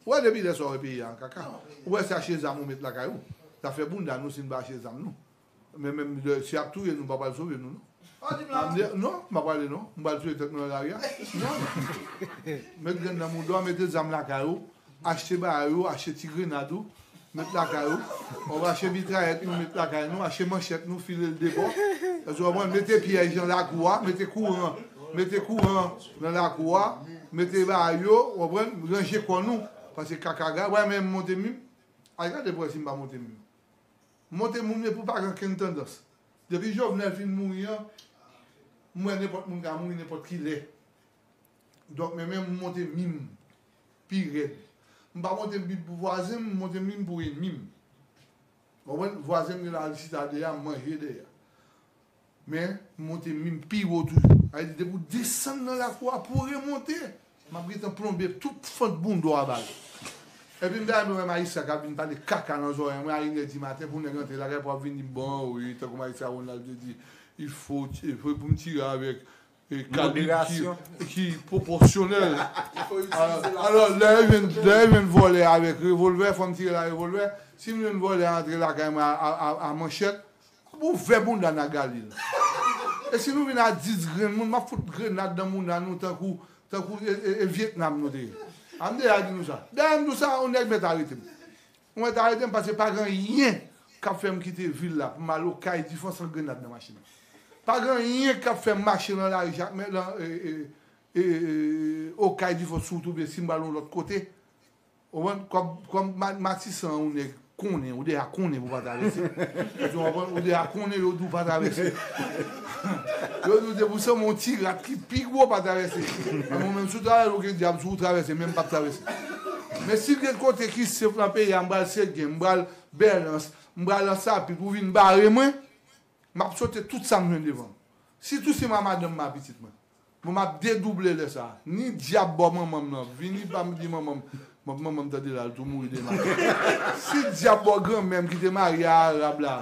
Ou wè depi lè sa ou wè peyi a an kaka. Ou wè sa che zam ou met lakay ou. Zafè bounda nou si n pa achte zam nou. Men menm lè si yap touye nou mpa pral sove nou non. Ou dim la non. Non mpa prale non. M pral touye tèt mwen nan lari a. Non non. Met grenn nan mouda w mete zam lakay ou achte bagay ou achte ti grenad ou met lakay ou wap achte mitrayèt nou met lakay nou achte manchèt nou file l debò èske w konprann mete pyèj nan lakou a mete kouran mete kouran nan lakou a mete bagay yo ou konprann ranje kò nou paske kaka ga wè menm monte mim al gade pou wè si m pa monte mim. Monte moun epou pa gen kenn tandans. Depi Jovenel fin mouri an m wè nenpòt moun ka mouri nenpòt kilè. Donk men menm m monte min m pi rèd. M pa monte min pou vwazen m, m monte min m pou enmi m. Ou konprann? Vwazen m gen Larisitade a, m manje dèyè. Men, m monte minm pi wo toujou. Sa vle di depi w desann nan lakou a pou w remonte, m ap gentan plonbe tout fant bondo a ba li. Epi m ta renmen wè Maïssa k ap vin pale kaka nan zòrèy mwen a inèdimaten pou nèg antre lakay pou ap vin di m bon wi, tankou Maïssa Ronald te di, il faut pou m tire avèk kalite ki pwopòsyonèl. Alò, lè yo jwenn vòlè avèk revolvè, fò m tire l a revolvè. Si m jwenn vòlè antre lakay mwen a manchèt, m ouvè bounda Nagali l. E si nou vin a dis grenn moun, m ap fout grenad nan bounda nou tankou e Vyetnam nou te ye. A m deja di nou sa. Dèyè m di w sa, yon nèg mèt arete m. Mwen ta edem pase pa gen yen kap fèm kite vil la pou mal okay difon san grenad nan machin pa gen yen kap fèm mache lan lari jakmèl lan okay difon sou wout oubyen sim pral yon lòt kote ou konprann kòm matisan an yon nèg konnen ou deja konnen pou pa travèse èske ou konprann ou deja konnen yo di ou pa travèse. Yo di w se pou sèm yon ti rat ki pi gwo pa travèse. Menm ou menm si w travèse ou gen dyab sou ou travèse menm pap travèse. Men si gen kote ki sef lan peyi a m pral Seguin, m pral Bèlans, m pral Ansapit pou vin bare mwen, map sote tout sa m jwenn devan m. Si Tousen pa madanm m pa pitit mwen. Mwen map dedouble lè sa. Ni dyab bò manman m nan vini pa m di manman m Mòp manman m tande la l tou mouri demen Si dyab bò gran mè m ki te marye a arab la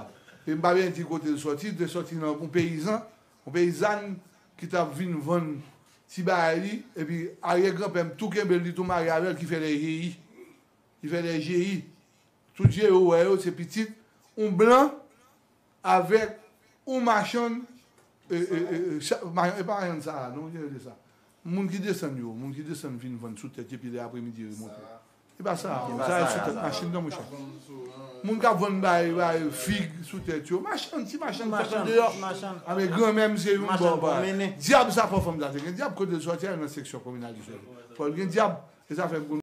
e m pa byen di kote l sòti te sòti nan yon peyizan yon peyizàn ki tap vin vann ti bagay li epi aryè gran pè m tou kenbe l li tou marye avè l ki fè lè jeyi ki fè lè jeyi tout je yo wè yo se pitit yon blan Avek ou machann e pa machann sara non ki rele sa moun ki desann yo moun ki desann vin vann sou tèt epi lè aprè midi remonte e pa sara non sara sou tèt machin nan monchè moun kap vann bagay bagay fig sou tèt yo machann ti machann ki fèt andeyò a men granmè m se yon bon bagay dyab sa fò fanm sa te gen dyab kotel sòti a nan seksyon kominal li fèt fòl gen dyab e sa fè m konn.